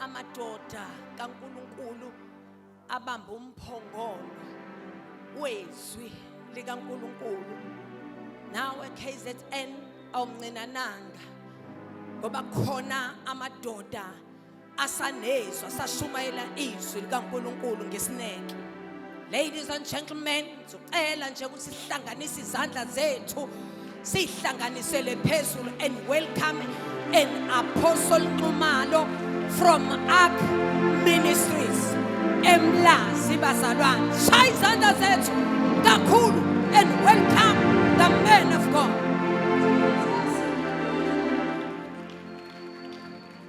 amadoda kaNkuluNkulu abamba umphongolo wezwi likaNkuluNkulu nawe KZN awumncinananga ngoba khona amadoda asanezwa sashumayela izwi likaNkuluNkulu ngesineke ladies and gentlemen ngicela nje ukuthi sihlanganise izandla zethu sihlanganisele phezulu and welcome an apostle Nxumalo from Ark Ministries emlazi bazalwane shaya izandla zethu kakhulu and welcome the man of God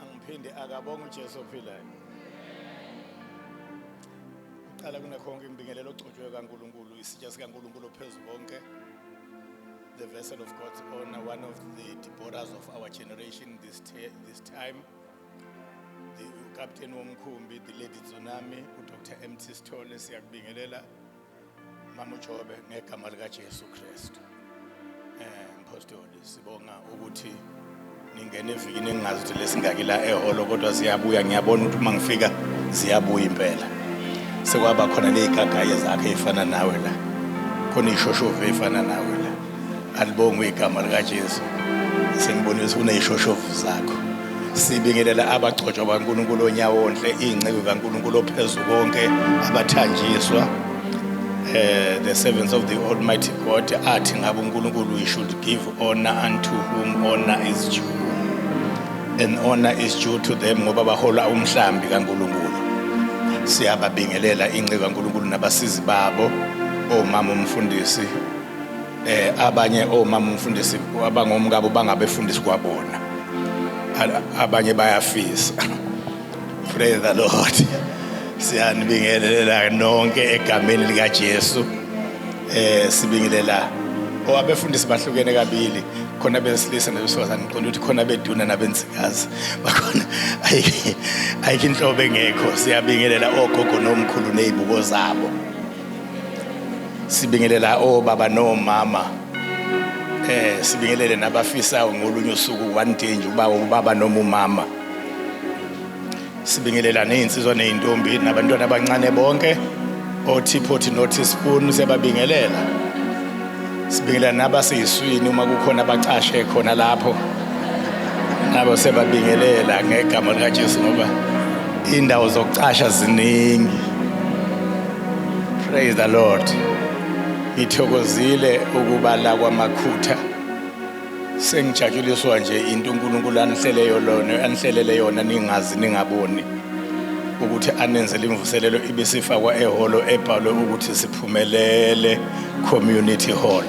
angiphinde akabonga uJesu ophilayo uqala kunekhonke ngibingelela ogcotshwe kaNkuluNkulu isitsha sikaNkuluNkulu ophezulu konke the vessel of God's honor one of the Deborahs of our generation this this time the captain womkhumbi the lady tsunami uDr MT Sithole siyakubingelela Mama uJobe ngegama lika Jesu Kristu. Eh mphostoli sibonga ukuthi ningene evikini engazi ukuthi lesingaki la eholo kodwa siyabuya ngiyabona ukuthi uma ngifika ziyabuya impela. Sekwaba khona nezigagaye zakhe ezifana nawe la. Khona ishoshovu efana nawe. alibongwe igama likaJesu senibonisa kuneyishoshovu zakho sibingelela abagcotshwa baNkulunkulu onyawonhle izinceku kaNkulunkulu ophezu konke abathanjiswa eh the servants of the almighty God athi ngabe uNkulunkulu we should give honor unto whom honor is due and honor is due to them ngoba bahola umhlambi kaNkulunkulu siyababingelela inceku kaNkulunkulu nabasizi babo omama umfundisi eh abanye omama umfundisi abangomkabo bangabefundisi kwabona abanye bayafisa praise the lord siyanibingelela nonke egameni lika Jesu eh sibingelela owabefundisi bahlukene kabili khona besilisa nabesifazane ngiqonda ukuthi khona beduna nabensikazi bakhona ayikho inhlobo engekho siyabingelela ogogo nomkhulu nezibuko zabo sibingelela obaba nomama eh sibingelele nabafisayo ngolunye usuku one day nje uba ubaba noma umama sibingelela nezinsizwa nezintombi nabantwana abancane bonke othiphothi nothi spoon siyababingelela sibingelela nabaseyiswini uma kukhona abacashe khona lapho nabo sebabingelela ngegama likaJesu ngoba indawo zokucasha ziningi praise the lord ngithokozile ukuba la kwamakhutha sengijatshuliswa nje into uNkulunkulu anihlele yona anihlelele yona ningazi ningaboni ukuthi anenzele imvuselelo ibisifakwa ehholo ebhalwe ukuthi siphumelele community hall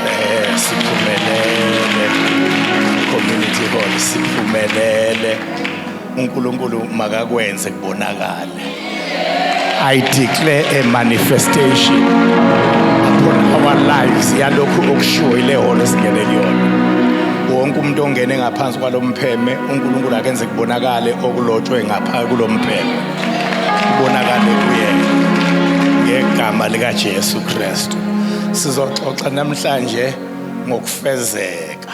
eh siphumelele community hall siphumelele uNkulunkulu makakwenze kubonakala I declare a manifestation upon our lives yalokhu okushiwo ile holo esingene kuyona wonke umuntu ongene ngaphansi kwalo mpheme unkulunkulu akenze kubonakale okulotshwe ngapha kulo mpheme kubonakale kuyena ngegama likajesu kristu sizoxoxa namhlanje ngokufezeka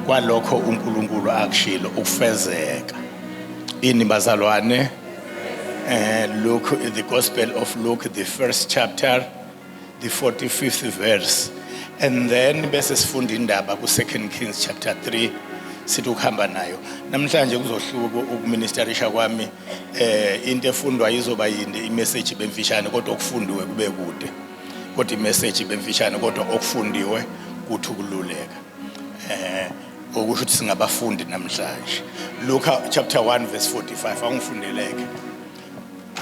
kwalokho unkulunkulu akushilo ukufezeka Ini bazalwane eh Luke the Gospel of Luke the first chapter the 45th verse and then bese sifunda indaba ku second Kings chapter 3 sithi ukuhamba nayo namhlanje kuzohluka ukuministerisha kwami eh into efundwa izoba yinde imessage bemfishane kodwa okufundiwe kube kude kodwa imessage bemfishane kodwa okufundiwe kuthi ukululeka eh okusho ukuthi singabafundi namhlanje Luka chapter 1 verse 45 angifundeleke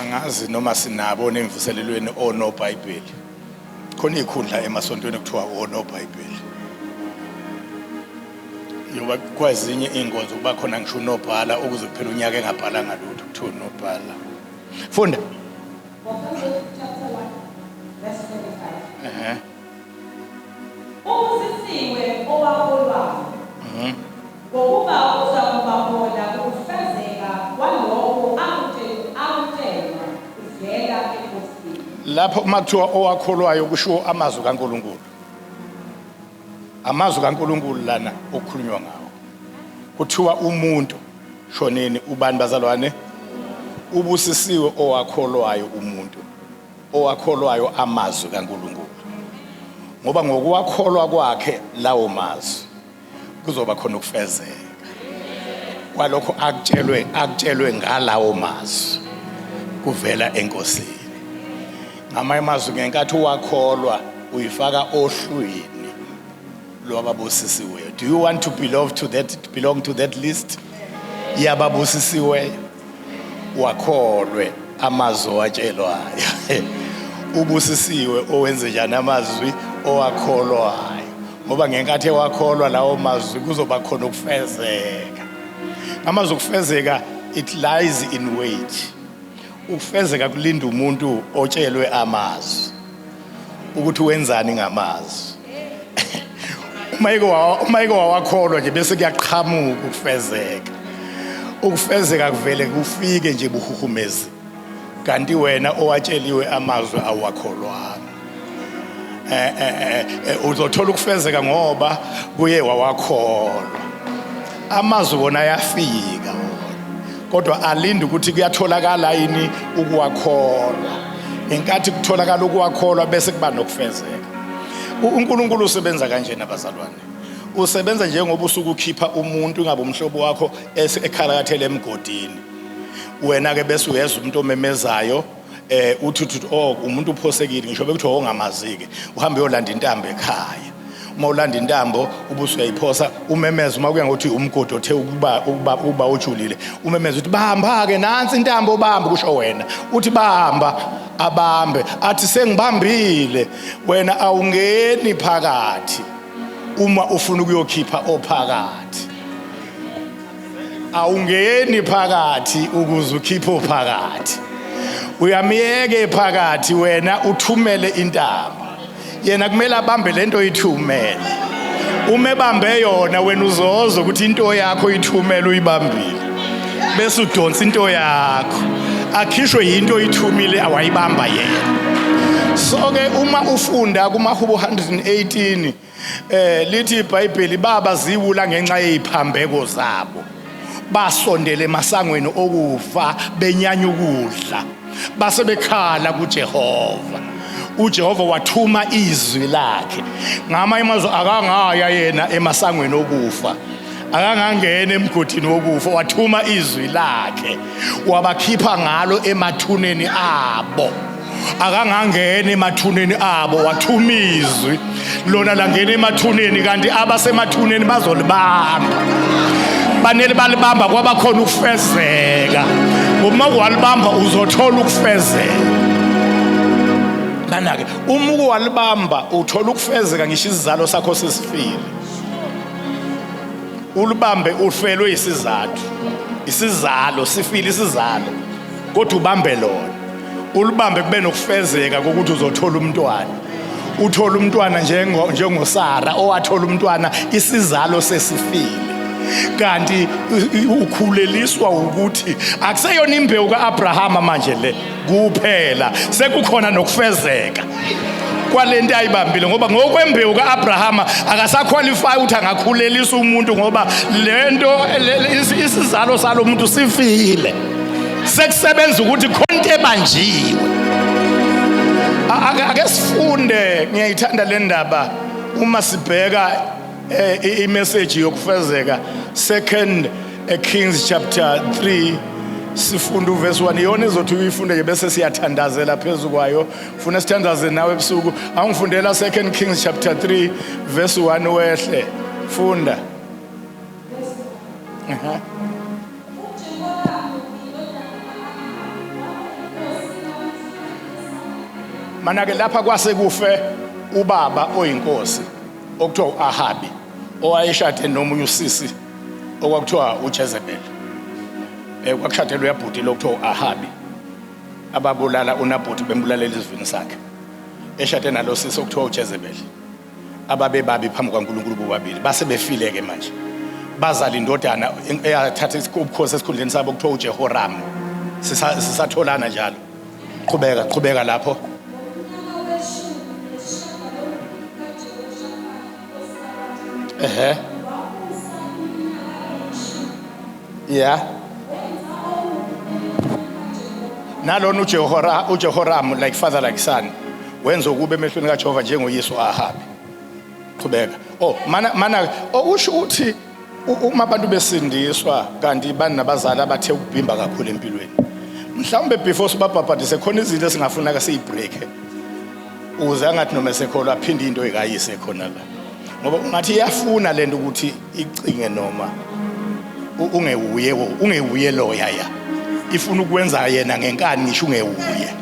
angazi noma sinabo nemvuselelweni onobhayibheli khona ikhundla emasontweni kuthiwa onobhayibheli yoba kwazinye iy'nkonzo kuba khona ngisho unobhala ukuze kuphela unyaka engabhalanga lutho kuthiwa unobhala funda Uh-huh. Ubusisiwe obaholwayo ngokuba uza kubahola kukufezeka kwalokho akutshelwa kuvela eNkosini. Lapho uma kuthiwa owakholwayo kushiwo amazwi kaNkulunkulu. Amazwi kaNkulunkulu lana okukhulunywa ngawo. Kuthiwa umuntu shoneni ubani bazalwane? Ubusisiwe owakholwayo umuntu owakholwayo amazwi kaNkulunkulu ngoba ngokuwakholwa kwakhe lawo mazwi kuzoba khona ukufezeka kwalokho akutshelwe akutshelwe ngalawo mazwi kuvela enkosini ngamanye amazwi ngenkathi uwakholwa uyifaka ohlwini lo ababusisiweyo do you want to belong to that belong to that list yababusisiweyo wakholwe amazwi owatshelwayo ubusisiwe owenze njani amazwi owakholwayo ngoba ngenkathi ewakholwa lawo mazwi kuzoba khona ukufezeka amazwi okufezeka it lies in wait ukufezeka kulinda umuntu otshelwe amazwi ukuthi wenzani ngamazwi uma ike wawakholwa nje bese kuyaqhamuka ukufezeka ukufezeka kuvele kufike nje buhuhumezi kanti wena owatsheliwe amazwi awakholwanga eh, eh, eh, uzothola ukufezeka ngoba kuye wawakholwa amazwi wona ayafika kodwa alinde ukuthi kuyatholakala yini ukuwakholwa ngenkathi kutholakala ukuwakholwa bese kuba nokufezeka uNkulunkulu usebenza kanje nabazalwane usebenza njengoba usuke ukhipha umuntu ingabe umhlobo wakho ekhalakathele emgodini wena ke bese uyeza umuntu omemezayo eh uthi uthi oh umuntu uphosekile ngisho bekuthi ongamazike oh, uhambe yolanda intambo ekhaya uma ulanda intambo ubuso uyayiphosa umemeza uma kuya ngokuthi umgodi othe ukuba ukuba uba ojulile umemeza uthi bahamba ke nansi intambo bamba kusho wena uthi bahamba abambe athi sengibambile wena awungeni phakathi uma ufuna ukuyokhipha ophakathi awungeni phakathi ukuze ukhiphe ophakathi uyamyeke phakathi wena uthumele intaba yena kumele abambe lento oyithumele uma ebambe yona wena uzoza ukuthi into yakho uyithumele uyibambile bese udonsa into yakho akhishwe yinto oyithumile awayibamba yena so ke uma ufunda kumahubo 118 Eh lithi iBhayibheli baba ziwula ngenxa yeziphambeko zabo. Basondele emasangweni okufa benyanya ukudla. Base bekhala kuJehova. uJehova wathuma izwi lakhe ngamanye amazwi akangaya yena emasangweni okufa akangangena emgodini wokufa wathuma izwi lakhe wabakhipha ngalo emathuneni abo akangangena emathuneni abo wathuma izwi lona langena emathuneni kanti abasemathuneni bazolibamba banele balibamba kwabakhona ukufezeka uma walibamba uzothola ukufezeka nanake uma uke walibamba uthola ukufezeka ngisho isizalo sakho sisifile ulibambe uhlelwe isizathu isizalo sifile isizalo kodwa ubambe lona ulibambe kube nokufezeka kokuthi uzothola umntwana uthola umntwana njengosara owathola umntwana isizalo sesifile kanti ukhuleliswa ukuthi akuseyona imbewu ka-abrahama manje le kuphela sekukhona nokufezeka kwale nto ayibambile ngoba ngokwembewu ka-abrahama akasakhwalifayi ukuthi angakhulelisa umuntu ngoba le nto isizalo salo muntu sifile sekusebenza ukuthi khonto ebanjiwe ake sifunde ngiyayithanda le ndaba uma sibheka eh, imeseji yokufezeka second eh, kings chapter 3 sifunda uvesi 1 iyona ezothi uyifunde nje bese siyathandazela phezu kwayo funa sithandaze nawe ebusuku angifundela second kings chapter 3 verse 1 wehle funda uh-huh. manake lapha kwase kufe ubaba oyinkosi okuthiwa u-ahabi owayeshade nomunye usisi okwakuthiwa ujezebeli um eh, kwakushadelwe uyabhuti lokuthiwa u-ahabi ababulala uNabhothi bembulalela isivini sakhe eshade nalo sisi okuthiwa uJezebeli ababebabi phambi kwaNkulunkulu bobabili base befile-ke manje bazala indodana eyathatha ubukhosi esikhundleni sabo kuthiwa uJehoramu sisatholana njalo qhubeka qhubeka lapho ehe uh -huh. yeah nalona ujehora ujehoramu like father like son wenza ukube emehlweni kajehova njengoyesu ahabi qhubeka oh mana mana okusho oh, ukuthi uma abantu besindiswa kanti bani nabazali abathe ukubhimba kakhulu empilweni mhlawumbe before sibabhabhadise khona izinto esingafuna-ke siyibreak-e ukuze angathi noma esekholwa aphinde into ekayise khona la ngoba ungathi iyafuna lento ukuthi icinge noma ungewuye ungewuye loya ya ifuna ukwenza yena ngenkani ngisho ungewuye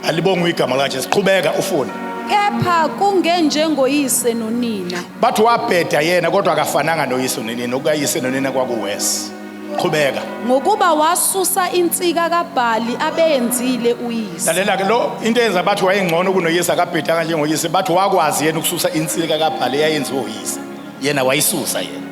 alibonga igama lakhe siqhubeka ufuna kepha kungenjengoyise nonina bathi wabheda yena kodwa akafananga noyise nonina okuyise nonina kwakuwesi qhubeka ngokuba wasusa insika kaBhali abeyenzile uyise lalela ke lo into eyenza bathi wayengcono kunoyise akabheda kanje ngoyise bathi wakwazi yena ukususa insika kaBhali eyayenziwe uyise yena wayisusa yena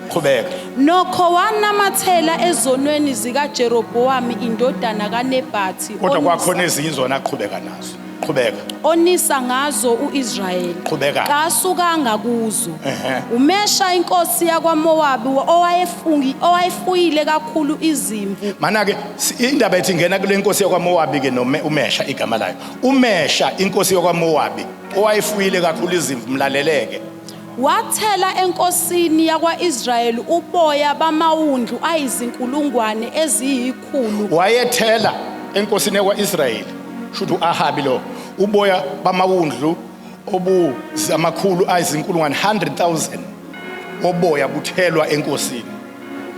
qhubeka nokho wanamathela ezonweni zikaJerobowamu indodana kaNebhathi kodwa kwakhona ezinye izona aqhubeka nazo qhubeka onisa ngazo uIsrayeli Qhubeka. kasukanga kuzo Ehhe. umesha inkosi yakwaMowabi wa- owayefungi owayefuyile kakhulu izimvu mana ke si- indaba ethi ngena kule nkosi yakwamowabi ke nome umesha igama layo umesha inkosi yakwamowabi owayefuyile kakhulu izimvu mlaleleke wathela enkosini yakwaIsrayeli uboya bamawundlu ayizinkulungwane eziyi kakhulu. Wayethela enkosini yakwa-Israyeli shuthi u-Ahabi lo uboya bamawundlu obuzamakhulu ayizinkulungwane 100,000 oboya kuthelwa enkosini.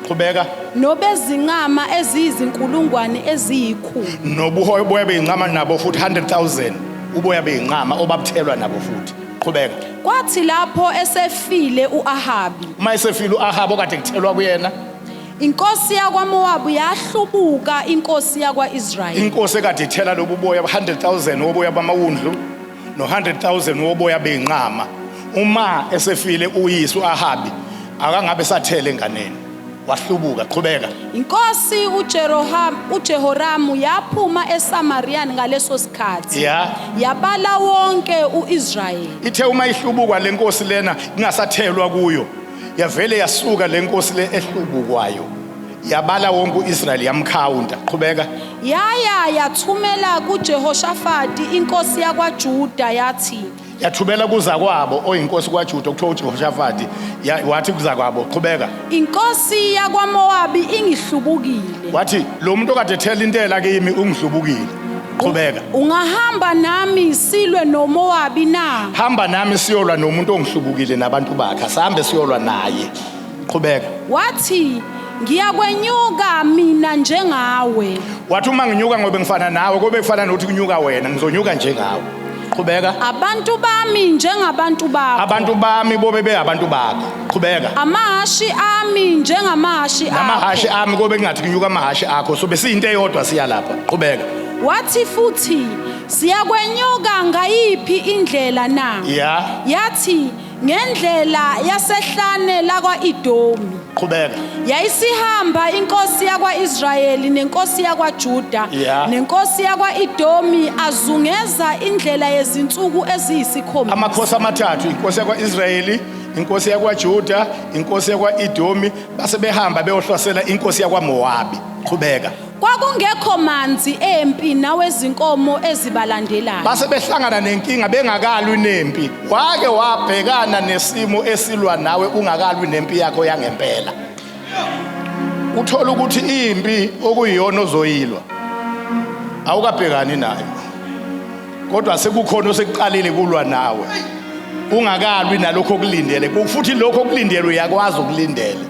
Qhubeka. Nobezinqama eziyizinkulungwane eziyikhulu. Nobuhoya uboya beyinqama nabo futhi 100,000 uboya beyinqama obabuthelwa nabo futhi. Qhubeka. Kwathi lapho esefile u-Ahabi. Uma esefile u-Ahabi okade kuthelwa kuyena Inkosi yakwaMowabu yahlubuka inkosi yakwa-Israyeli. Inkosi ekade ithela lobu boya 100,000 woboya bamawundlu no-100,000 woboya bey'nqama uma esefile uyise u-ahabi akangabe sathele enganeni wahlubuka qhubeka Inkosi uJeroham uJehoramu yaphuma eSamariya ngaleso sikhathi. Ya. Yabala wonke uIsrayeli. ithe uma ihlubukwa le nkosi lena ingasathelwa kuyo yavele yasuka le nkosi le ehlubukwayo yabala wonke uIsrayeli yamkhawunta qhubeka yaya yathumela kuJehoshafati inkosi yakwaJuda yathi yathumela kuza kwabo oyinkosi kwaJuda okuthiwa uJehoshafati wathi kuza kwabo qhubeka inkosi yakwaMowabi ingihlubukile wathi lo muntu okade ethela intela kimi ungihlubukile qhubeka Ungahamba nami silwe noMowabi na? hamba nami siyolwa nomuntu ongihlubukile nabantu bakhe asihambe siyolwa naye qhubeka Wathi, Ngiyakwenyuka mina njengawe. wathi uma nginyuka ngobe ngifana nawe kobe kufana nokuthi kunyuka wena ngizonyuka njengawe qhubeka Abantu bami njengabantu bakho. abantu bami bobe beyabantu bakho qhubeka Amahashi ami njengamahashi akho. namahashi ami kobe kungathi kunyuka amahashi akho so besiyinto eyodwa siya lapha qhubeka Wathi futhi siyakwenyuka ngayiphi indlela na? ya Yathi ngendlela yasehlane lakwa-Idomi. qhubeka Yayisihamba inkosi yakwa-Israyeli nenkosi yakwaJuda Yeah. nenkosi yakwa-Idomi azungeza indlela yezinsuku eziyisikhombisa. amakhosi amathathu inkosi yakwa-israyeli inkosi yakwaJuda inkosi yakwa-Edomi base behamba beyohlasela inkosi yakwaMowabi qhubeka Kwakungekho manzi empi nawezinkomo ezibalandelayo. base behlangana nenkinga bengakalwi nempi wake wabhekana nesimo esilwa nawe ungakalwi nempi yakho yangempela uthola ukuthi impi okuyiyona ozoyilwa awukabhekani nayo kodwa sekukhona osekuqalile kulwa nawe ungakalwi nalokho okulindele futhi lokho okulindele uyakwazi ukulindele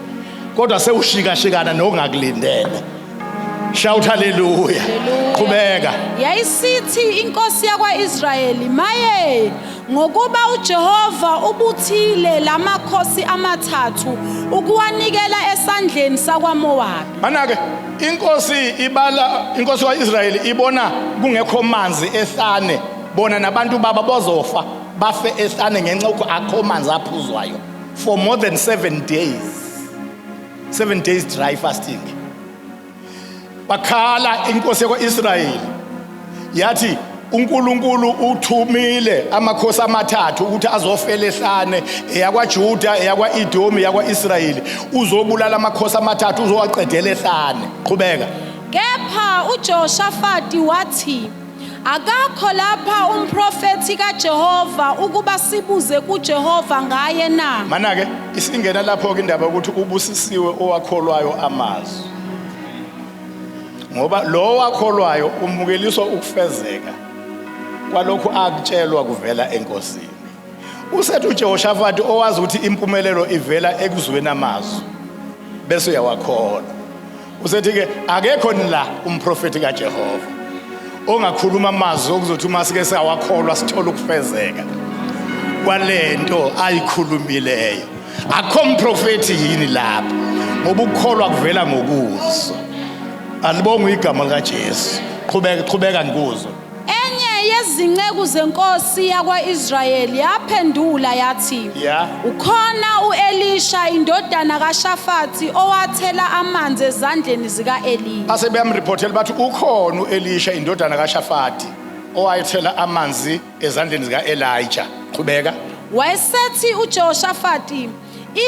kodwa sewushikashikana nokungakulindele shout haleluya qhubeka yayisithi inkosi yakwaIsrayeli maye ngokuba uJehova ubuthile lamakhosi amathathu ukuwanikela esandleni sakwaMowabi manake inkosi ibala inkosi kaIsrayeli ibona kungekho manzi ehlane bona nabantu baba bozofa bafe ehlane ngenxa ukuthi akho manzi aphuzwayo for more than 7 days 7 days dry fasting bakhala inkosi yakwaIsrayeli yathi uNkulunkulu uthumile amakhosi amathathu ukuthi azofela ehlane eyakwaJuda eyakwaEdomi yakwaIsrayeli uzobulala amakhosi amathathu uzowaqedela ehlane qhubeka kepha uJoshafati wathi akakho lapha umprofethi kaJehova ukuba sibuze kuJehova ngaye na manake isingena lapho ke indaba ukuthi ubusisiwe owakholwayo amazwi ngoba lowo akholwayo umukeliswa ukufezeka kwalokhu akutshelwa kuvela enkosini usethi uJehoshafati owazi ukuthi impumelelo ivela ekuzweni amazwi bese uyawakholwa usethi ke akekho nila umprofeti kaJehova ongakhuluma amazwi okuzothi uma sike sawakholwa sithola ukufezeka kwalento ayikhulumileyo akho mprofethi yini lapha ngoba ukukholwa kuvela ngokuzwa alibonga igama likaJesu qhubeka qhubeka ngikuzwa enye yezinceku zenkosi yakwa-israyeli yaphendula yathi Yeah. ukhona u-elisha indodana kashafathi owathela amanzi ezandleni zika-eliya base beyamriphothela bathi ukhona uElisha indodana kaShafati owayethela amanzi ezandleni zika-elija qhubeka wayesethi ujehoshafati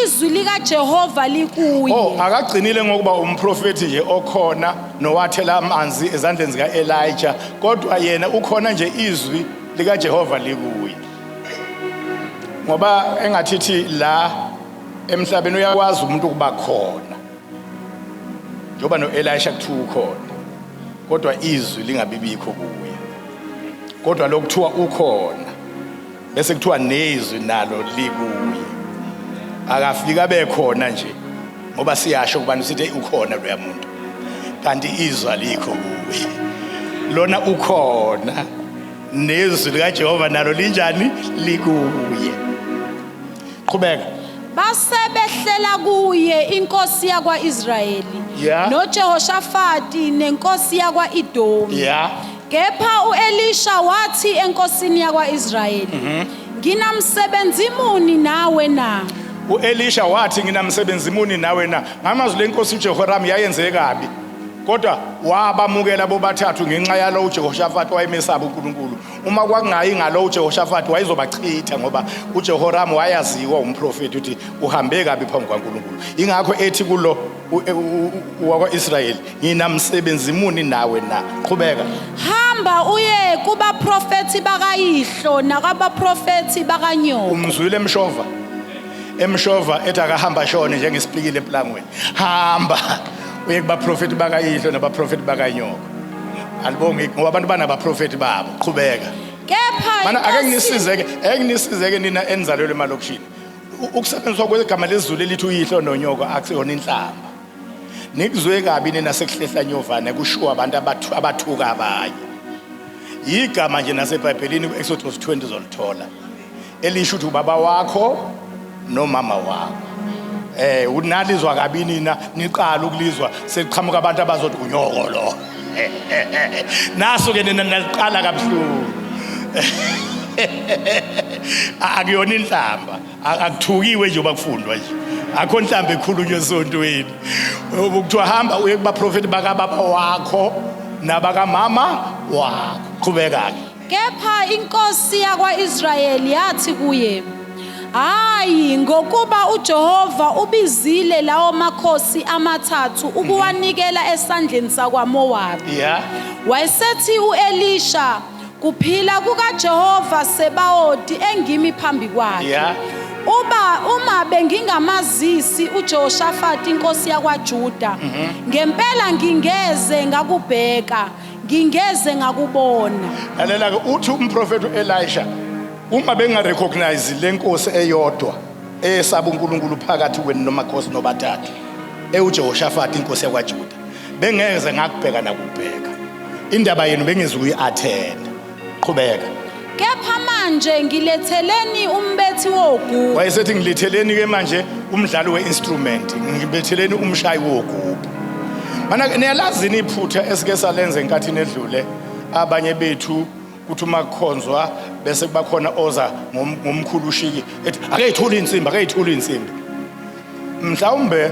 izwi likajehova likuye o akagcinile ngokuba umprofethi nje okhona nowathela amanzi ezandleni zika-elija kodwa yena ukhona nje izwi likajehova likuye ngoba engathithi la emhlabeni uyakwazi umuntu ukuba khona njengoba no-elisha kuthiwa ukhona kodwa izwi lingabibikho kuye kodwa lokuthiwa ukhona bese kuthiwa nezwi nalo likuye akafika bekhona nje ngoba siyasho kubani sithi ukhona loya muntu kanti izwi alikho kuye lona ukhona nezwi likajehova nalo linjani likuye qhubeka basebehlela kuye inkosi yakwa-israyeli Yeah. nojehoshafati nenkosi yakwa-idomi ya kepha u-elisha wathi enkosini yakwa-israyeli Mhm. nginamsebenzi muni nawe na uelisha wathi nginamsebenzi muni nawe na ngamazwi lenkosi ujehoramu yayenze kabi kodwa wabamukela bobathathu ngenxa yalo ujehoshafati wayemesaba unkulunkulu uma kwakungayi ngalo uJehoshafati wayezobachitha ngoba uJehoramu wayaziwa umprofeti ukuthi uhambe kabi phambi kwaNkulunkulu ingakho ethi kulo e, wakwa-Israyeli nginamsebenzi muni nawe na qhubeka hamba uye kubaprofethi bakayihlo nakabaprofethi bakanyoko umzwile emshova emshova ethi akahamba shone njengesipikile empilangweni hamba uye kubaprofethi bakayihlo nabaprofethi bakanyoko Alibongi ngoba abantu banabaprofeti babo qhubeka. Kepha Mana ake inkosi- ngisizeke, ake ngisizeke nina enizalelwe emalokishini. U- Ukusebenziswa kwegama lezulu elithi uyihlo nonyoko akusiyona inhlamba. Nikuzwe kabi nina sekuhlehla nyovane kushiwo abantu abathu- abathuka abanye. Igama nje naseBhayibhelini kuExodus 20 zolithola. elisho ukuthi ubaba wakho nomama wakho eh unalizwa kabi nina niqala ukulizwa sekuqhamuka abantu abazothi unyoko lo naso ke nina naliqala kabuhlungu akuyona inhlamba akuthukiwe nje bakufundwa nje akho inhlamba ekhulunywe esontweni ukuthiwa hamba uye kubaprofeti bakababa wakho nabakamama wakho qhubeka-ke Kepha inkosi yakwa-Israyeli yathi kuye, Hhayi, ngokuba uJehova ubizile lawo makhosi amathathu ukuwanikela esandleni sakwaMowabi. Yeah. Wayesethi u-Elisha, Kuphila kukaJehova Sebawoti engimi phambi kwakhe. Yeah. Uba uma bengingamazisi uJehoshafati inkosi yakwaJuda, ngempela ngingeze ngakubheka. ngingeze ngakubona lalela ke uthi umprofethi uElisha uma benga recognize lenkosi eyodwa eyesaba uNkulunkulu phakathi kwenu nomakhosi nobathathu ewuJehoshafati inkosi yakwaJuda bengeze ngakubheka nakubheka indaba yenu bengezukuyi attend qhubeka kepha manje ngiletheleni umbethi wogubu wayesethi ngiletheleni ke manje umdlali weinstrument ngibetheleni umshayi wogubu mana niyalazini iphutha esike salenze enkathini edlule abanye bethu kuthi uma kukhonzwa bese kubakhona oza ngomkhulu ushiki ethi akeyithuli insimbi akeyithuli insimbi mhlawumbe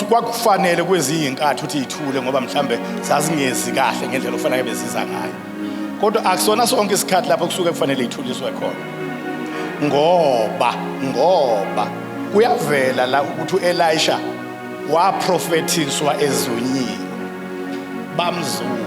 kwakufanele kwezinye inkathi ukuthi ithule ngoba mhlambe zazingezi kahle ngendlela okufanele beziza ngayo kodwa akusona sonke isikhathi lapho kusuke kufanele ithuliswe khona ngoba ngoba kuyavela la ukuthi uElisha waprofethiswa ezonyini bamzuma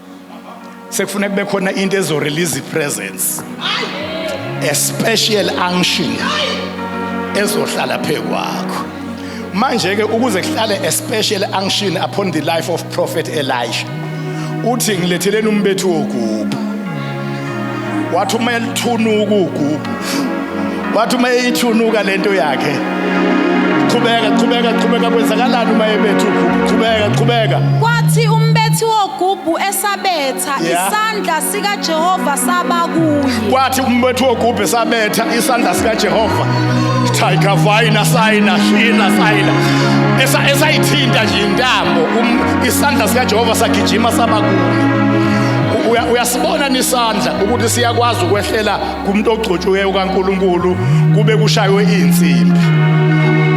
sekufuna kube khona into ezorelease ipresence a special unction ezohlala phezu kwakho manje ke ukuze kuhlale a special unction upon the life of prophet Elisha uthi ngiletheleni umbethu wogubu wathi uma elithunuka ugugu wathi uma eyithunuka lento yakhe qhubeka qhubeka qhubeka kwenzakalani uma ebetha ugugu qhubeka qhubeka kwathi umbethi wogubu esabetha isandla sikajehova saba kuye kwathi umbethi wogubu esabetha isandla sikajehova tiger vina sayina shina sayina esayithinta nje intambo um, isandla sikajehova sagijima saba kuye uyasibona nisandla ukuthi siyakwazi ukwehlela kumuntu ogcotshiweyo kaNkuluNkulu kube kushaywe insimbi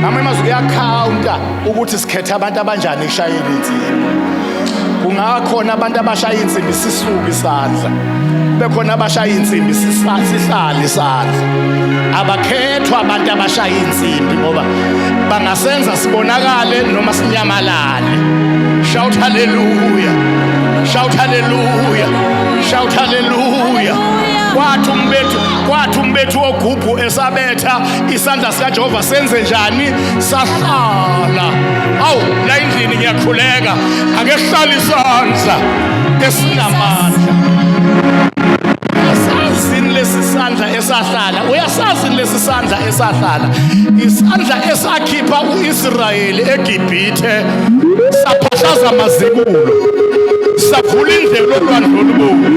ngamanye amazwi kuyakhawunta ukuthi sikhethe abantu abanjani ekushayeni insimbi kungakhona abantu abashaya insimbi sisuke isandla bekhona abashaya insimbi sihlale isandla abakhethwa abantu abashaya insimbi ngoba bangasenza sibonakale noma sinyamalale Shout hallelujah. Shout hallelujah. Shout hallelujah. Kwathi umbethu kwathi umbethu ogubhu esabetha isandla sika Jehova senze njani sahlala. Awu la endlini ngiyakhuleka ake sihlale isandla esinamandla. Uyasazini lesi sandla esahlala uyasazini lesi sandla esahlala isandla esakhipha uIsrayeli ibhithe saphahlaza amazibulo savula indlela olwandle olubomvu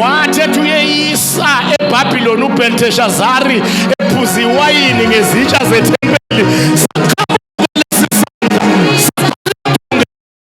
wathi ethi uyeyisa ebhabhiloni ubhelteshazari ephuza iwayini ngezitsha zethempeli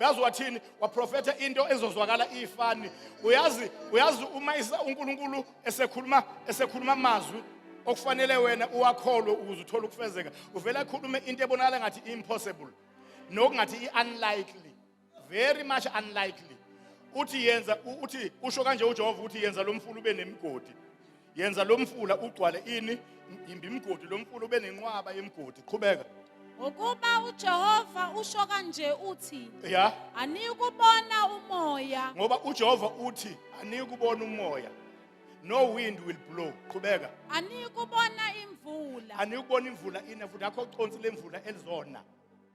uyazi wathini waprofetha into ezozwakala ifani uyazi uyazi uma uNkulunkulu esekhuluma esekhuluma amazwi okufanele wena uwakholwe ukuze uthole ukufezeka uvela ekhulume into ebonakala ngathi impossible nokungathi iunlikely very much unlikely uthi yenza uthi usho kanje uJehova uthi yenza lomfulu ube nemigodi yenza lo mfula ugcwale ini imbi imgodi lo mfula ube nenqwaba yemgodi qhubeka ngokuba uJehova usho kanje uthi ya anikubona umoya ngoba uJehova uthi anikubona umoya no wind will blow qhubeka anikubona imvula anikubona imvula ina futhi akho consi lemvula elizona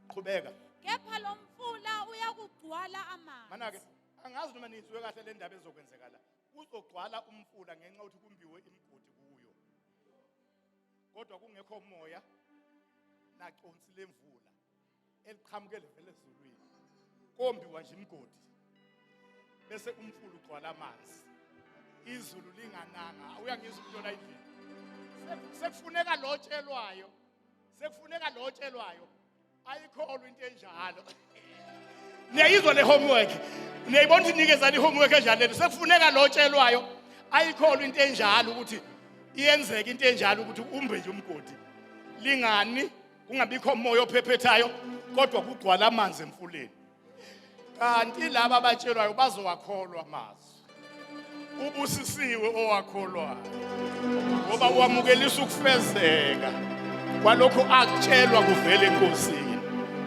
qhubeka kepha lo mfula uyakugcwala amanzi manake angazi noma nizwe kahle le ndaba ezokwenzeka la Kuzogcwala umfula ngenxa yokuthi kumbiwe imigodi kuyo. Kodwa kungekho moya naconsi lemvula eliqhamuke livele ezulwini. Kombiwa nje imigodi. Bese umfula ugcwala amanzi. Izulu lingananga. Uyangizwa umuntu ola indlela. Sekufuneka lotshelwayo. Sekufuneka lotshelwayo. ayikholwa into enjalo niyayizwa le homework niyayibona ukuthi nikezani i-homework enjalo lento sekufuneka lo tshelwayo ayikholwa into enjalo ukuthi iyenzeka into enjalo ukuthi umbe nje umgodi lingani kungabikho moya ophephethayo kodwa kugcwala amanzi emfuleni kanti laba abatshelwayo bazowakholwa amazwi ubusisiwe owakholwayo ngoba wamukelisa ukufezeka kwalokho akutshelwa kuvela enkosini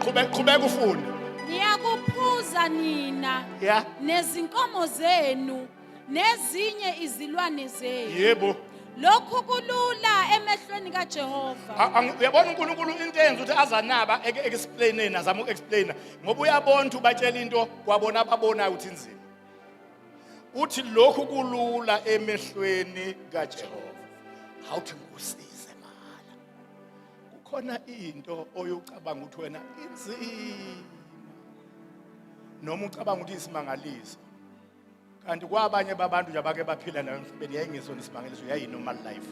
qhubeka qhubeka ufunde niyakuphuza nina Yeah. nezinkomo zenu nezinye izilwane zenu yebo lokhu kulula emehlweni kajehova A- ang- uyabona unkulunkulu into enza ukuthi azanaba eke- eke-explaineni azama uku-explaina ngoba uyabona ukuthi ubatshela into kwabona ababonayo ukuthi inzima uthi lokhu kulula emehlweni kajehova awuthi ngikusize mahala kukhona into oyocabanga ukuthi wena inzima noma ucabanga ukuthi isimangaliso kanti kwabanye babantu nje abake baphila nayo emhlabeni yayingesona isimangaliso yayi-normal life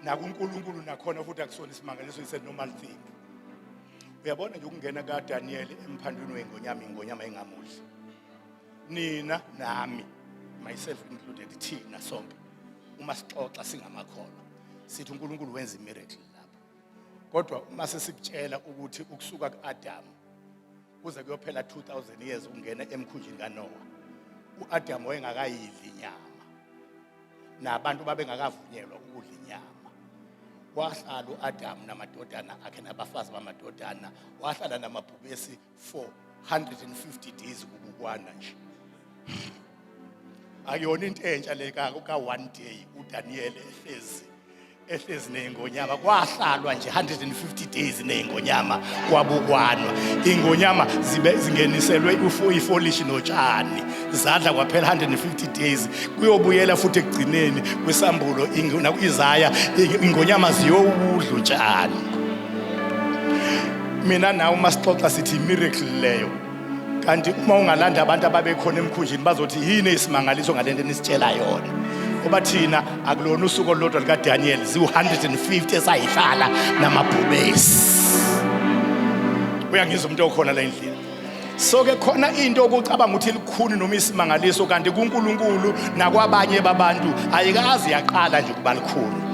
nakunkulunkulu nakhona futhi akusona isimangaliso is a normal thing uyabona nje ukungena kadaniyeli emphandwini wengonyama ingonyama engamudli nina nami myself included thina sonke uma sixoxa singamakholwa sithi unkulunkulu wenza imiracle lapho kodwa uma sesibutshela ukuthi ukusuka ku-adamu kuze kuyophela 2000 years ukungena emkhunjini kaNoah uAdam wayengakayidli inyama nabantu babengakavunyelwa ukudla inyama wahlala uAdam namadodana akhe nabafazi bamadodana wahlala namabhubesi for 150 days kubukwana nje akuyona into entsha le ka ka one day uDaniel ehlezi ehlezi nezingonyama kwahlalwa nje 150 days nezingonyama kwabukwanwa ingonyama zibe zingeniselwe ufu ifolish notshani zadla kwaphela 150 days kuyobuyela futhi ekugcineni kwisambulo ingona izaya ingonyama ziyowudlu tshani mina nawe masixoxa sithi miracle leyo kanti uma ungalanda abantu ababekhona emkhunjini bazothi yini isimangaliso ngale nto enisitshela yona ngoba thina akulona usuku olulodwa likadaniyeli ziwu-150 esayihlala namabhubesi uyangizwa umuntu okhona la endlini so ke khona into okucabanga ukuthi likhuni noma isimangaliso kanti kuNkulunkulu nakwabanye babantu ayikazi yaqala nje ukuba likhulu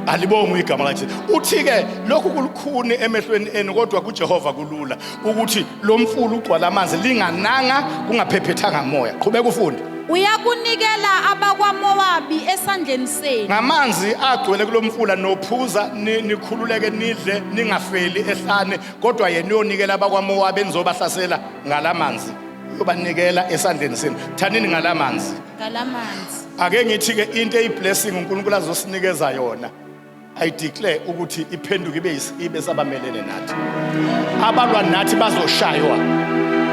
alibongi igama lakhe uthi ke lokhu kulukhuni emehlweni enu kodwa kuJehova kulula ukuthi lo mfula ugcwala amanzi lingananga kungaphephethanga moya qhubeka ufunde uyakunikela abakwamowabi esandleni senu ngamanzi agcwele kulo mfula nophuza ni- nikhululeke nidle ningafeli ehlane kodwa yena uyonikela abakwamowabi enizobahlasela ngala manzi uyobanikela esandleni senu thanini ngala manzi ngalamanzi ake ngithi-ke into eyiblessing unkulunkulu azosinikeza yona I declare ukuthi iphenduke ibe isibe sabamelene nathi. Abalwa nathi bazoshaywa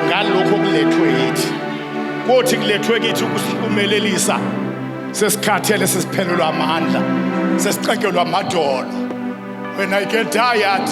ngalokho kulethwe yithi. Kothi kulethwe kithi ukusilumelelisa sesikhathele sesiphelelwa amandla, sesixegelwa amadolo. When I get tired,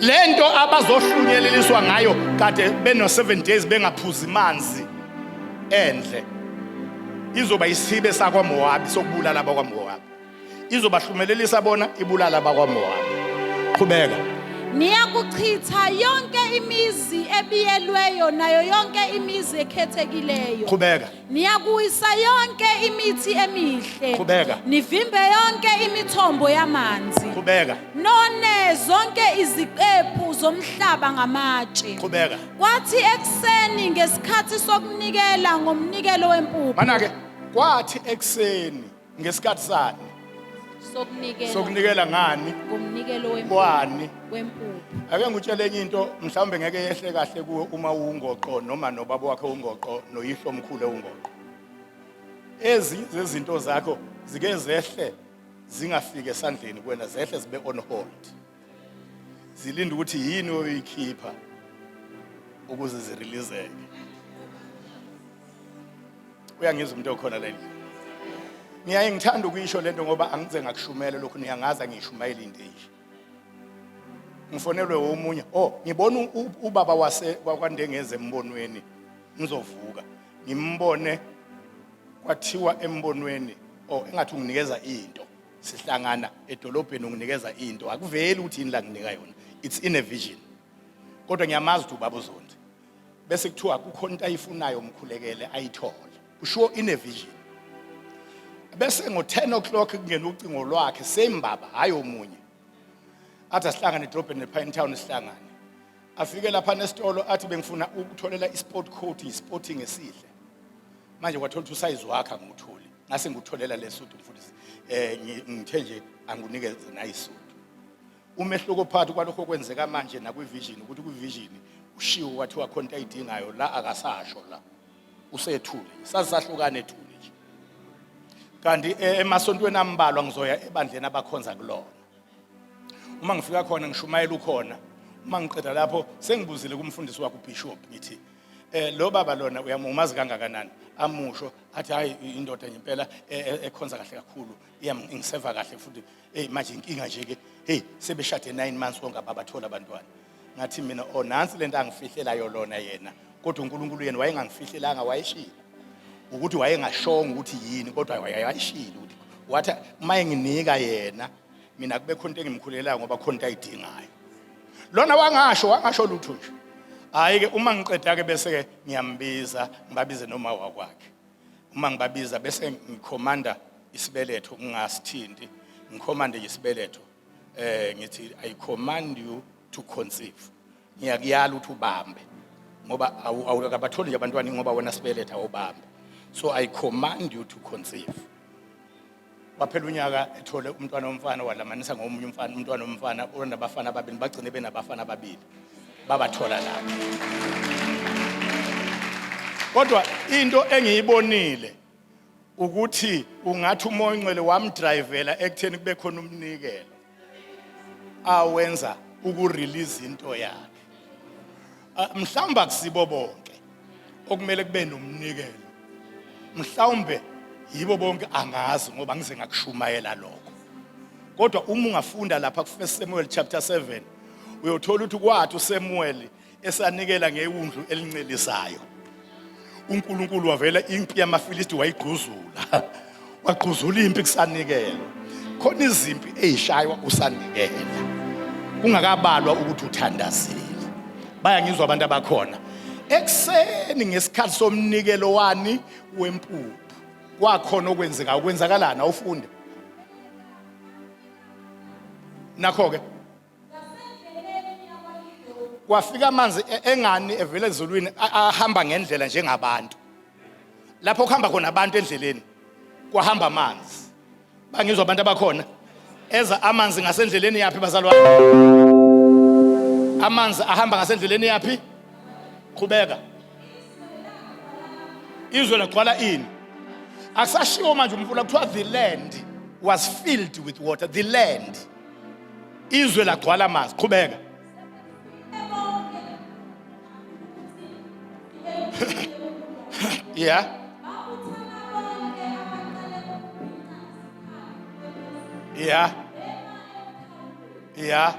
le nto abazohlunyeleliswa ngayo kade beno-seven days bengaphuzi manzi endle izoba isibe sakwamowabi sokubulala abakwamowabi izobahlumelelisa bona ibulala abakwamowabi qhubeka niyakuchitha yonke imizi ebiyelweyo nayo yonke imizi ekhethekileyo qhubeka Niyakuyisa yonke imithi emihle. Qhubeka. Nivimbe yonke imithombo yamanzi. Qhubeka. None zonke iziqephu zomhlaba ngamatshe. Qhubeka. Kwathi ekuseni ngesikhathi sokunikela ngomnikelo wempuphu. Manake kwathi ekuseni ngesikhathi sani sokunikela sokunikela ngani ngomnikelo wempuphu kwani wempuphu ake ngikutshele enye into mhlawumbe ngeke yehle kahle kuwe uma uwungoqo noma nobaba wakhe ungoqo noyihlo omkhulu ewungoqo ezinye zezinto zakho zike zehle zingafiki esandleni kuwena zehle zibe on hold zilinde ukuthi yini oyikhipha ukuze zirelizeke uyangizwa umuntu okhona leli ngiyaye ngithanda ukuyisho lento ngoba angize ngakushumele lokhu niyangazi angiyishumayeli into enje ngifonelwe omunye oh ngibona ubaba wase kwakwandengeze embonweni ngizovuka ngimbone kwathiwa embonweni oh engathi unginikeza into sihlangana edolobheni unginikeza into akuveli ukuthi yini la nginika yona it's in a vision kodwa ngiyamazi ukuthi ubaba uzondi bese kuthiwa kukhona into ayifunayo umkhulekele ayithole ushiwo in a vision bese ngo-10 o'clock kungena ucingo lwakhe same baba hhayi omunye athi asihlangane edrobheni nepine town sihlangane afike lapha nesitolo athi bengifuna ukutholela i-sport coat i-sporting esihle manje wathola ukuthi usayizi wakhe angiwutholi ngase ngikutholela lesudi mfundisi eh ngithe nje anginikeze nayisudi umehluko phakathi kwalokho kwenzeka manje nakwivision ukuthi kwivision ushiwo wathi wakhona into ayidingayo la akasasho la usethule sazisahlukana ethule nje kanti eh, emasontweni ambalwa ngizoya ebandleni abakhonza kulona uma ngifika khona ngishumayela ukhona uma ngiqeda lapho sengibuzile kumfundisi wakho ubishop ngithi eh lo baba lona uyamumazi kangakanani amusho athi hayi indoda ngempela e- e- ekhonza kahle kakhulu iyam- ingiseva kahle futhi eyi manje inkinga nje-ke heyi sebeshade nine months konke ababatholi abantwana ngathi mina o nansi le nto angifihlelayo lona yena kodwa unkulunkulu yena wayengangifihlelanga wayeshile ukuthi wayengashongo ukuthi yini kodwa waye- wayeshile ukuthi wathi uma enginika yena mina kube khona into engimkhulelayo ngoba khona into ayidingayo lona wangasho wangasho lutho nje hayi ke uma ngiqeda ke bese ke ngiyambiza ngibabize noma wakwakhe uma ngibabiza bese ngikhomanda isibeletho ngingasithinti ngikhomande isibeletho eh ngithi i command you to conceive ngiyakuyala ukuthi ubambe ngoba awukabatholi nje abantwana ngoba wena sibeletha ubambe so i command you to conceive waphela unyaka ethole umntwana womfana walamanisa ngomunye umfana umntwana womfana onabafana ababili bagcine benabafana ababili babathola lapho kodwa into engiyibonile ukuthi ungathi umoya ongcwele wamdrivela ekutheni kube khona umnikelo awenza ukurelease into yakhe ah, mhlawumbe akusibo bonke okumele kube nomnikelo mhlawumbe yibo bonke angazi ngoba ngize ngakushumayela lokho kodwa uma ungafunda lapha ku 1 Samuel chapter 7 uyothola ukuthi kwathi uSamuel esanikela ngewundlu elincelisayo uNkulunkulu wavela impi yamaFilisti wayigquzula wagquzula impi kusanikela khona izimpi ezishaywa usanikela kungakabalwa ukuthi uthandazile baya ngizwa abantu abakhona ekuseni ngesikhathi somnikelo wani wempuphu kwakhona okwenzeka ukwenzakalana ufunde nakho ke kwafika amanzi e- engani evela ezulwini a- ahamba ngendlela njengabantu lapho kuhamba khona abantu endleleni kwahamba amanzi bangizwa abantu abakhona eza amanzi ngasendleleni yaphi bazalwane amanzi ahamba ngasendleleni yaphi qhubeka izwe lagcwala ini akusashiwo manje umfula kuthiwa the land was filled with water the land izwe lagcwala amazi qhubeka yeah yeah yeah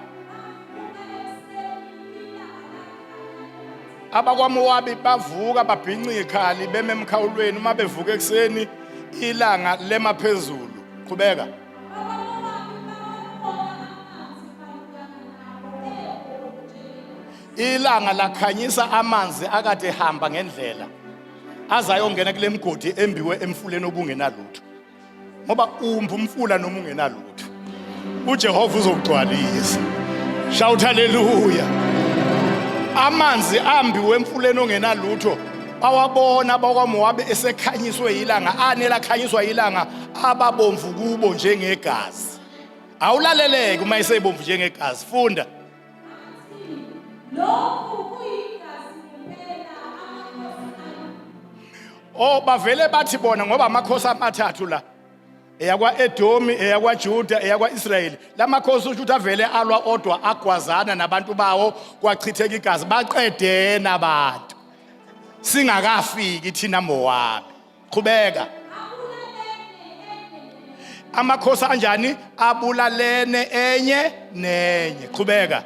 abakwamowabi bavuka babhinca ikhali beme emkhawulweni uma bevuka ekuseni ilanga lema phezulu qhubeka ilanga lakhanyisa amanzi akade hamba ngendlela azayongena kule mgodi embiwe emfuleni obungenalutho ngoba umbi umfula noma ungenalutho uJehova uzokugcwalisa shout haleluya amanzi ambiwe emfuleni ongenalutho bawabona bakwaMowabe esekhanyiswe yilanga anela khanyiswa yilanga ababomvu kubo njengegazi awulaleleke uma isebomvu njengegazi funda lokhu kuyigazi kuphela amakhosi oh bavele bathi bona ngoba amakhosi amathathu la eyakwa-edomi eyakwajuda eyakwa-israyeli la makhosi usho ukuthi avele alwa odwa agwazana nabantu bawo kwachitheka igazi baqedena abantu singakafiki thina mowami qhubeka amakhosi anjani abulalene enye nenye qhubeka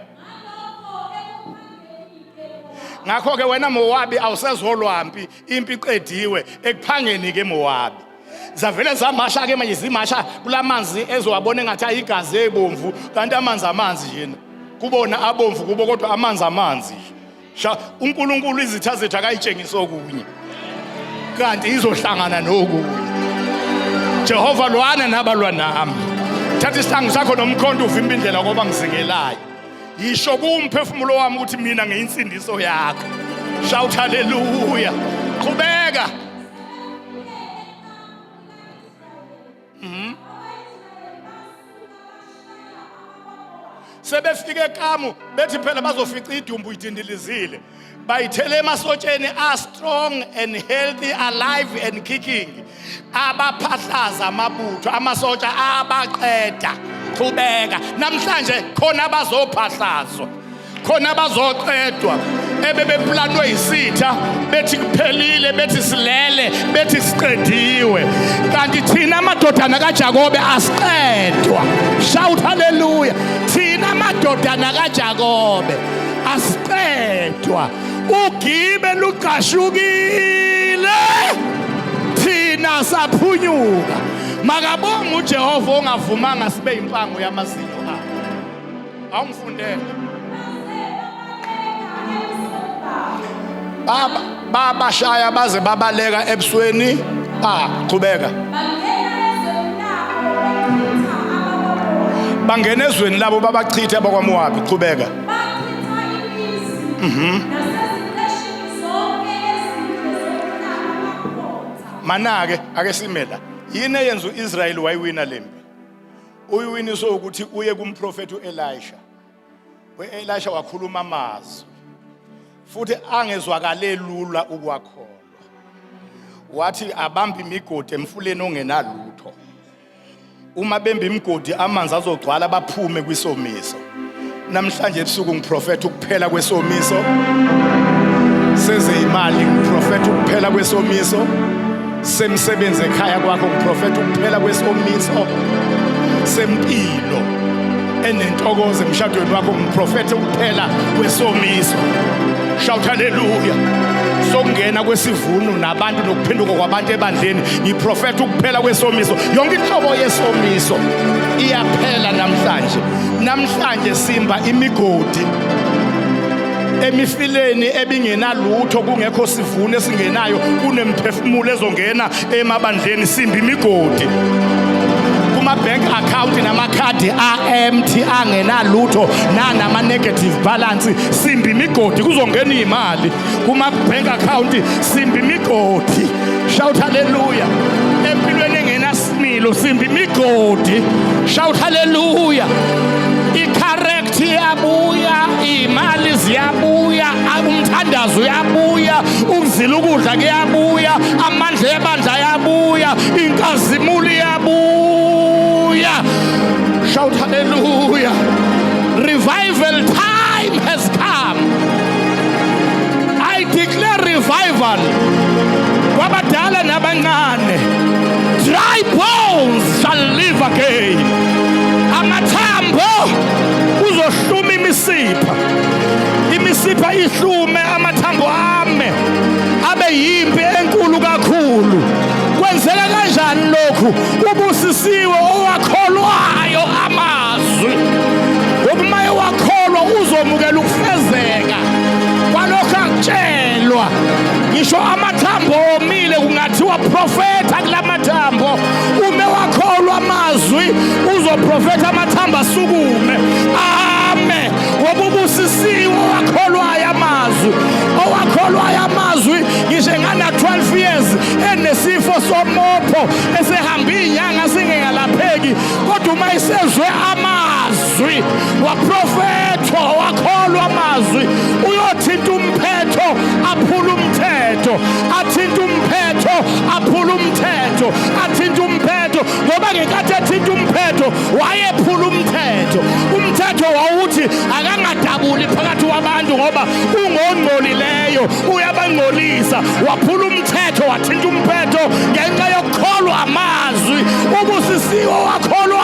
ngakho ke wena Mowabi awusezolwampi impi iqediwe ekuphangeni ke Mowabi zavele zamasha ke manje zimasha kulamanzi ezowabona engathi ayigazi ebomvu kanti amanzi amanzi yena kubona abomvu kubo kodwa amanzi amanzi sha uNkulunkulu izitha zethu akayitshengisa okunye kanti izohlangana nokunye Jehova lwana nabalwa nami thatha isihlangu sakho nomkhonto uvimba indlela koba ngizingelayo yisho kumphefumulo wami ukuthi mina ngiyinsindiso yakho shout hallelujah qhubeka Mhm. sebefike ekamu bethi phela bazofica idumbu idindilizile bayithele emasotsheni are strong and healthy alive and kicking abaphahlaza amabutho amasotsha abaqeda qhubeka namhlanje khona bazophahlazwa khona abazoqedwa ebebeplanwe yisitha bethi kuphelile bethi silele bethi siqediwe kanti thina amadodana kaJakobe asiqedwa shout haleluya thina amadodana kaJakobe asiqedwa ugibe luqashukile thina saphunyuka makabonga uJehova ongavumanga sibe impango yamazinyo awungifundele baba baba shaya baze babaleka ebusweni ba qhubeka bangena ezweni labo babachithe abakwamowabi qhubeka mhm manake ake simela yini eyenza uIsrael wayiwina lempi Uyiwini so ukuthi uye kumprofeti uElisha. UElisha wakhuluma amazwi. Futhi angezwakale lula ukwakholwa. Wathi abambe imigodi emfuleni ongenalutho. Uma bembe imigodi amanzi azogcwala baphume kwisomiso. namhlanje ebusuku ngiprofetha ukuphela kwesomiso sezeyimali ngiprofetha ukuphela kwesomiso semsebenzi ekhaya kwakho ngiprofetha ukuphela kwesomiso sempilo enentokozo emshadweni wakho ngiprofetha ukuphela kwesomiso shout haleluya sokungena kwesivuno nabantu nokuphenduka kwabantu ebandleni ngiprofetha ukuphela kwesomiso yonke inhlobo yesomiso iyaphela namhlanje Namhlanje simba imigodi emifileni ebingenalutho kungekho sivuno esingenayo kunemphefumulo ezongena emabandleni simba imigodi kuma-bank account namakhadi a-empty angenalutho nanama-negative balance simba imigodi kuzongena iy'mali kuma-bank account simba imigodi shout haleluya Milo simbi migodi shout hallelujah icorrect iyabuya imali ziyabuya umthandazo uyabuya ukuzila ukudla kuyabuya amandla ebandla ayabuya inkazimulo iyabuya shout hallelujah revival time has come i declare revival kwabadala nabancane Dry bones shall live again. Amathambo uzohluma imisipha. Imisipha ihlume amathambo ame abe yimpi enkulu kakhulu. Kwenzeka kanjani lokhu? Ubusisiwe owakholwayo amazwi. Ngokuba ewakholwa uzomukela ukufezeka kwalokho akutshelwa. Ngisho amathambo kuthiwa profetha kula mathambo ume wakholwa amazwi uzoprofetha amathambo asukume ame wobubusisiwe owakholwayo amazwi owakholwayo amazwi ngisho engana-12 years enesifo somopho esehambe iy'nyanga singengalapheki kodwa uma isezwe amazwi amazwi waprofethwa wakholwa amazwi uyothinta umphetho aphula umthetho athinta umphetho aphula umthetho athinta umphetho ngoba ngenkathi ethinta umphetho wayephula umthetho umthetho wawuthi akangadabuli phakathi kwabantu ngoba ungongcolileyo uyabangcolisa waphula umthetho wathinta umphetho ngenxa yokukholwa amazwi ubusisiwe wakholwa